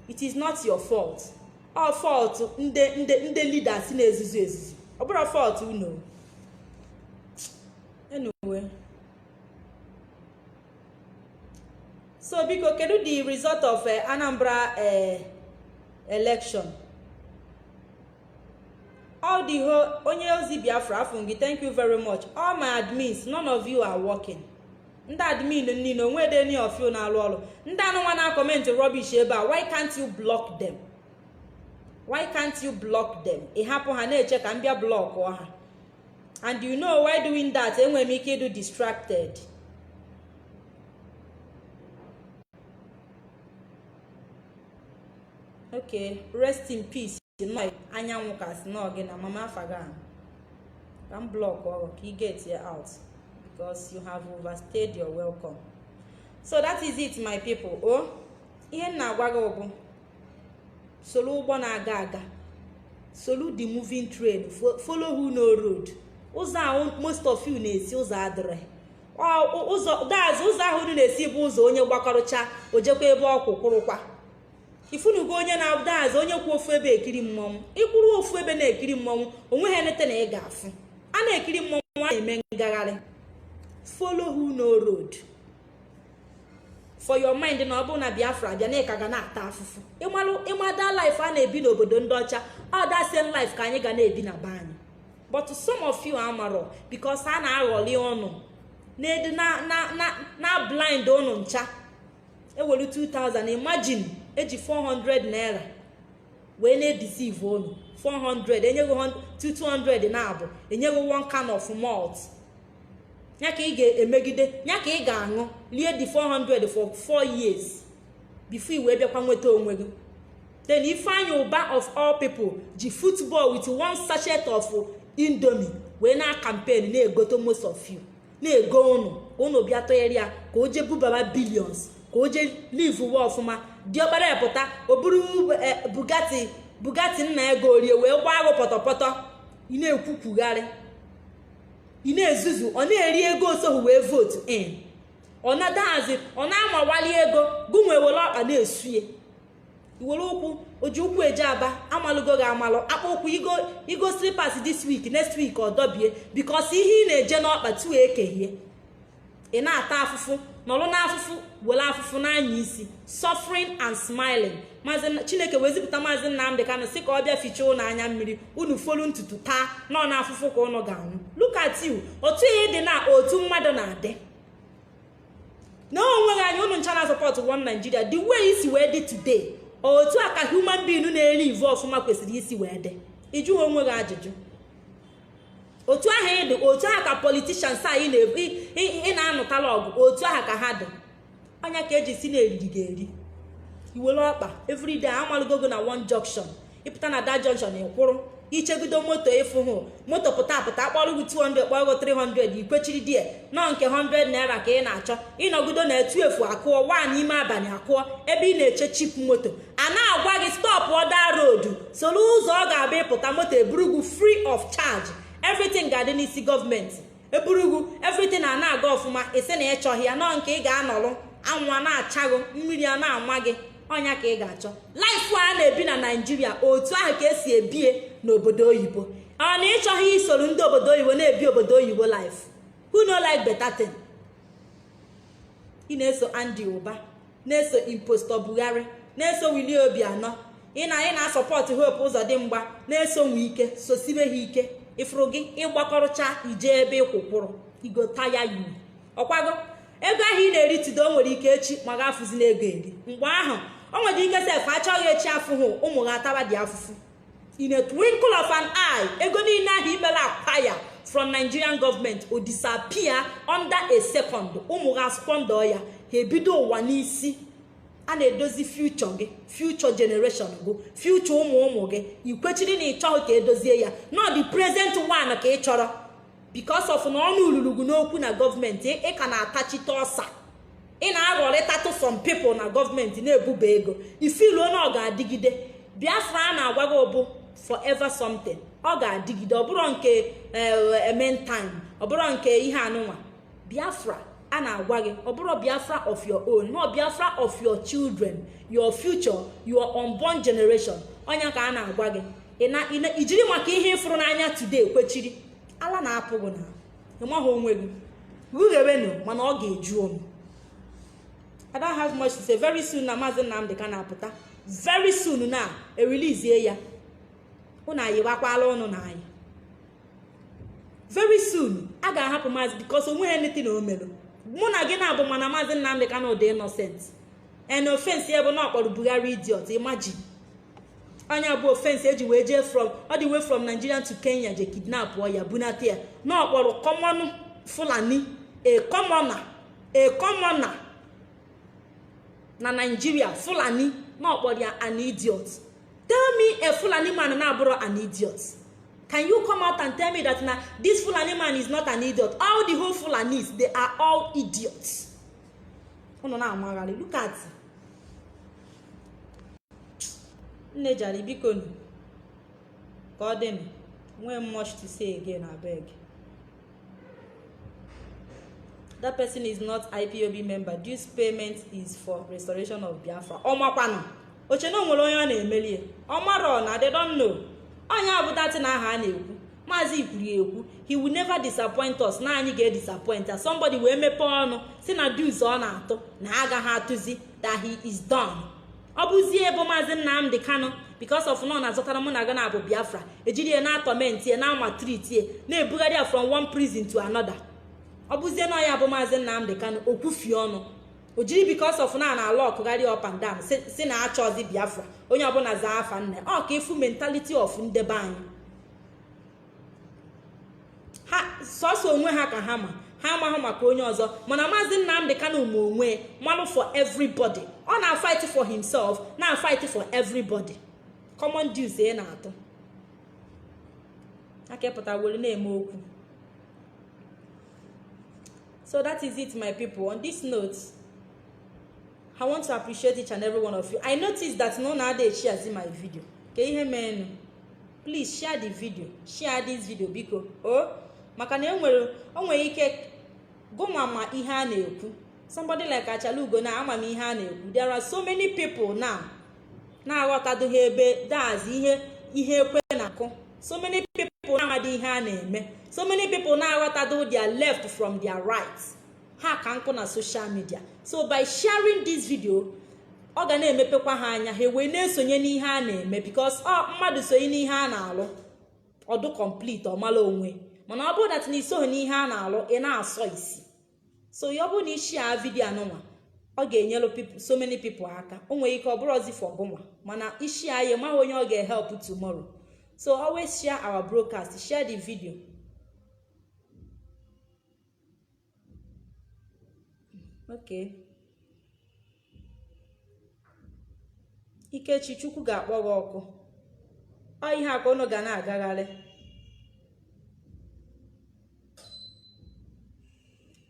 it is not your fault ọ fault ndị leaders na-ezuzu ezuzu ọ bụrọ fault unu anyway so biko kedu the result of eh, anambra eh, election all the whole onye ozi biafra afụ m gị thank you very much all my admins none of you are working ndị admin niile o nwedị any of you na-alụ ọrụ ndị anụnwa na-comment rubbish ebe a why can't you block them why can't you block them ị hapụ ha na-eche ka m bịa blọkụọ ha and you know while doing that enwe m ike ịdụ distracted okay rest in peace nọ anyanwụ ka si nọ gị na mama afagan ka m block ọrụ ka ị get ya out because you have overstayed your welcome so that is it my people o oh, ihe m na-agwa gị bụ soro ụgbọ na-aga aga solu the moving train follow who know road ụzọ ahụ most of you na-esi ụzọ adịhị that's ụzọ ahụ unu na-esi bụ ụzọ onye gbakọrọcha ojekwa ebe ọ kwụkwụrụkwa ifunugo onye na that's onye kwụ ofu ebe ekiri mmọnwụ ịkwụrụ ofu ebe na-ekiri mmọnwụ onweghị anything ị ga-afụ a na-ekiri mmọnwụ a na-eme ngagharị follow who know road for your mind na ọ bụ na biafra bịa na ịka ga na-ata afụfụ ị ma that life a na-ebi n'obodo ndị ọcha ọ that same life ka anyị ga na-ebi na be anyị but some of you amarọ because a na-aghọli ụnụ na-edu na-ablind ụnụ ncha ewere 2000 imagine eji 400 naira wee na-edeceive unu 400 enye gị 200 na abụọ enye gị one can of malt ya ka ị ga-emegide ya ka ị ga-aṅụ lie the 400 for 4 years before i wee bịakwa nweta onwe gị then ifeanyi ụba of all people ji football with one sachet of indomie wee na-acampaign na-egote most of you na-ego ụnụ ka ụnụ bịa tụnyere ya ka o jee bubaba billions ka o jee livewe ọfụma diọkpara ya pụta o buru eh, bugatti nna ya goori ya wee gbaa gị pọtọpọtọ ị na-ekwukwugharị ị na-ezuzu ọ na-eri ego osoghị wee vootu in ọ na that's ọ na-amawali ego gụnwa were ọkpa na-esuye iwere ụkwụ oji ụkwụ eje aba amalụgo gị amalụ akpụ ụkwụ igo slippers this week next week ọ dọbie because ihe ị na-eje n'ọkpa tuo ekehie ị na-ata afụfụ nọrọ n'afụfụ were afụfụ n'anya isi suffering and smiling maazị chineke wee zipụta maazị nnamdi kanu sị ka ọ bịa fichaa ụnụ anya mmiri unu folu ntutu taa na ọ n'afụfụ ka ụnụ ga-anwụ look at you otu ahụ ị dị na otu mmadụ na-adị na onweghị anya ụnụ ncha na-asupport one Nigeria the way i si wee dị today otu a ka human being na-eri ive ọfụma kwesịrị isi wee dị ịjụgo onwe gị ajụjụ otu ahụ ị dị otu ahụ ka politicians a ị na-anụtala ọgụ otu ahụ ka ha dị anya ka eji si na-eriri gị eri iwere ọkpa everyday amalụgo gị na one junction ịpụta na that junction ịkwụrụ ichegido moto ịfụ hụ moto pụta apụta akpọrọ gị 200 kpọrọ gị 300 ikwechiri die na ọ nke 100 naira ka ị na-achọ ịnọgido na twelve akụọ one ime abalị akụọ ebe ị na-eche cheap moto a na-agwa gị stop other road soro ụzọ ọ ga-abụ ịpụta moto eburu gị free of charge everything ga-adị n'isi gọọmenti eburu gị everything a na-aga ọfụma ị sị na ịchọghị ya na ọ nke ị ga-anọrụ anwụ a na-acha gị mmiri a na-ama gị ọ nya ka ị ga-achọ life a na-ebi na Nigeria otu ahụ ka esi ebie n'obodo oyibo ọ na ịchọghị isoro ndị obodo oyibo na-ebi obodo oyibo life who no like better thing ị na-eso Andy Uba na-eso impostor Buhari na-eso Willie Obianọ ị na ị na-asọpọtụ Hope Uzodimgba na-eso Wike sosibe ha ike ifuru gị ịgbakọrọcha ije ebe ịkwụkwụrụ igota ya yi ọkwago ego ahụ ị na-eri today o nwere ike echi ma ga-afụzi n'ego eri mgbe ahụ o nwere ike sef achọọ gị echi afụhụ ụmụ gị atabadị afụfụ in a twinkle of an eye ego niile ahụ i mere acquire from Nigerian government o disappear under a second ụmụ gị asquander ya ha ebido ụwa n'isi a na-edozi future gị future generation gị future ụmụ ụmụ gị i kwechiri na ịchọghị ka edozie ya na ọ the present one ka ị chọrọ because of na ọnụ lulu gị n'okwu na gọọmenti ị ka na-atachite ọsa ị na-aghọrịtatụ some people na gọọmenti na-ebuba ego i feeluo na ọ ga-adịgide biafra a na-agwa gị bụ forever something ọ ga-adịgide ọ bụrọ nke eh, meantime ọ bụrọ nke ihe anụnwa biafra a na-agwa gị ọ bụrọ biafra of your own na ọ biafra of your children your future your unborn generation ọ nya ka a na-agwa gị i jiri maka ihe ịfụrụ n'anya today kwechiri ala na-apụ gị na ịmaghị onwe gị rughewenụ mana ọ ga-eju ọnụ I don't have much to say very soon na maazị Nnamdị Kanu apụta very soon na erelease ya ụnụ anyị gbakwala ọnụ na anyị very soon a ga-ahapụ maazị because onweghị anything o mere mụ na gị naabọ ma na maazị Nnamdị Kanu dị innocent and offense ya bụ na ọ kpọrọ Buhari idiot imagine ọ nya bụ offense eji wee jee from all the way from Nigeria to Kenya je kidnap ya bunata ya na ọ kpọrọ common Fulani a commoner a commoner na Nigeria Fulani na ọ kpọrọ ya an idiot tell me a Fulani man na-abụrọ an idiot can you come out and tell me that na this Fulani man is not an idiot all the whole Fulanis they are all idiots unu na-amagharị look at nne jare bikonu ka ọ dị nwee much to say again abeg that person is not IPOB member dues payment is for restoration of biafra ọmakwanụ o che na onwere onye ọ na-emeli ọmarọ na they don know onye ọ bụ that na aha a na-ekwu maazị kwuru ya ekwu he will never disappoint us na anyị ga-edisappoint ya somebody wee mepee ọnụ sị na dues ọ na-atụ na agaghị atụzi that he is done ọ bụzie ebe maazị nnamdị kanụ because of na ọ na-azọtara mụ na gị ana bụ biafra e jiri ya na-atorment ya na-amaltreat ya na-ebugharị ya from one prison to another ọ bụzie na ya bụ maazị nnamdị kanụ okwufi ọnụ o jiri because of na a na-alockgharị up and down sị na achọzị biafra onye ọbụla zaa afa nne ọ ka ị fụ mentality of ndị be anyị ha sọsọ onwe ha ka ha ma ha amaghị maka onye ọzọ mana maazị nnamdị kanu ma onwe malụ for everybody ọ na-afight for himself na-afight for everybody common dues a na-atụ aka pụta were na-eme okwu so that is it my people on this note I want to appreciate each and every one of you. I noticed that na unu adị esharezi my video. Kee ihe meenụ. Please share the video. Share this video biko. Oh, maka na enwere o nwere ike gụnwa ma ihe a na-ekwu. Somebody like Achalugo now amaghị ihe a na-ekwu. There are so many people now na-aghọtadoghị ebe that's ihe ihe ekwe na-akụ. So many people now amadị ihe a na-eme. So many people now aghọtado their left from their right. ha ka nọ na social media so by sharing this video ọ ga na-emepekwa ha anya ha wee na-esonye n'ihe a na-eme because ọ oh, mmadụ sonye n'ihe a na-alụ ọ dị complete ọ mala onwe mana ọ bụrụ that na i soghị n'ihe a na-alụ ị na-asọ isi so ya ọ bụrụ na ị share video anụnwa ọ ga-enyelụ so many people aka o nwere ike ọ bụrọzị for gụnwa mana ị share ya ị maghị onye ọ ga-ehelp tomorrow so always share our broadcast share the video okay ikechi chukwu ga-akpọ gị ọkụ ọ ihe a ka unu ga na-agagharị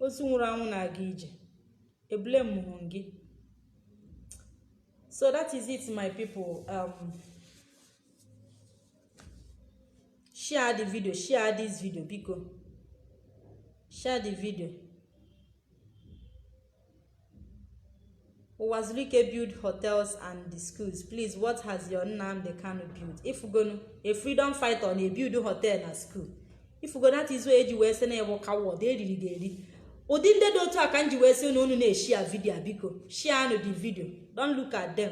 ozu nwụrụ anwụ na-aga ije ebule mụrụ gị so that is it my people um, share the video share this video biko share the video Uwazuruike built hotels and the schools. Please, what has your Nnamdi Kanu built? Ị fụgo a freedom fighter ọ na-ebuild hotel and school. Ị fụgo that is where e ji wee sị na ewu ka wọd eriri ga eri. Ụdị ndị dị otu a ka m ji wee sị na unu na-eshare video biko. Share the video. Don't look at them.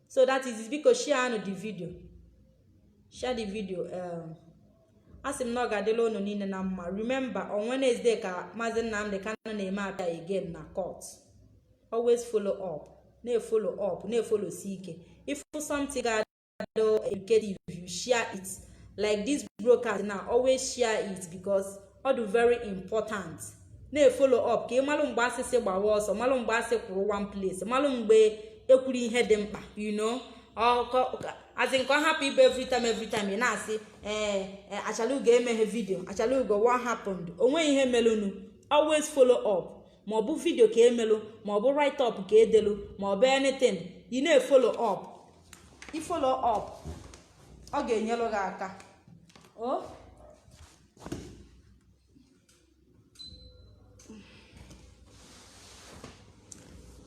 so that is it biko share anụ the video share the video um, a sị m na ọ ga-adịlị unu niile na mma remember on Wednesday ka Maazị Nnamdi Kanu na-eme appear again na court always follow up na-efolo up na-efolo si ike if something ga-adị educative you share it like this broadcast now always share it because ọ dị very important na-efolo up ka ị malụ mgbe a sị sị gbawa ọsọ malụ mgbe a sị kwụrụ one place malụ mgbe e kwuru ihe dị mkpa you know as in ka ọ hapụ ịbụ every time every time ị na-asị ee eh, eh, achalugo emeghị video achalugo what happened onweghị ihe melụnụ always follow up ma ọ bụ video ka e melụ ma ọ bụ write up ka e delụ ma ọ bụ anything ị na-efolo up ị folo up ọ ga-enyelụ gị aka o oh?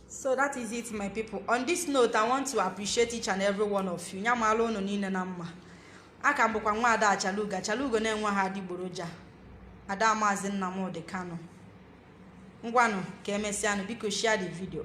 so that is it my people on this note i want to appreciate each and every one of you nya mala unu niile na mma aka m bụkwa nwa ada achalugo achalugo na-enweghị adịgboroja ada maazị nnamdị kanu ngwanụ ka emesịanụ biko share the video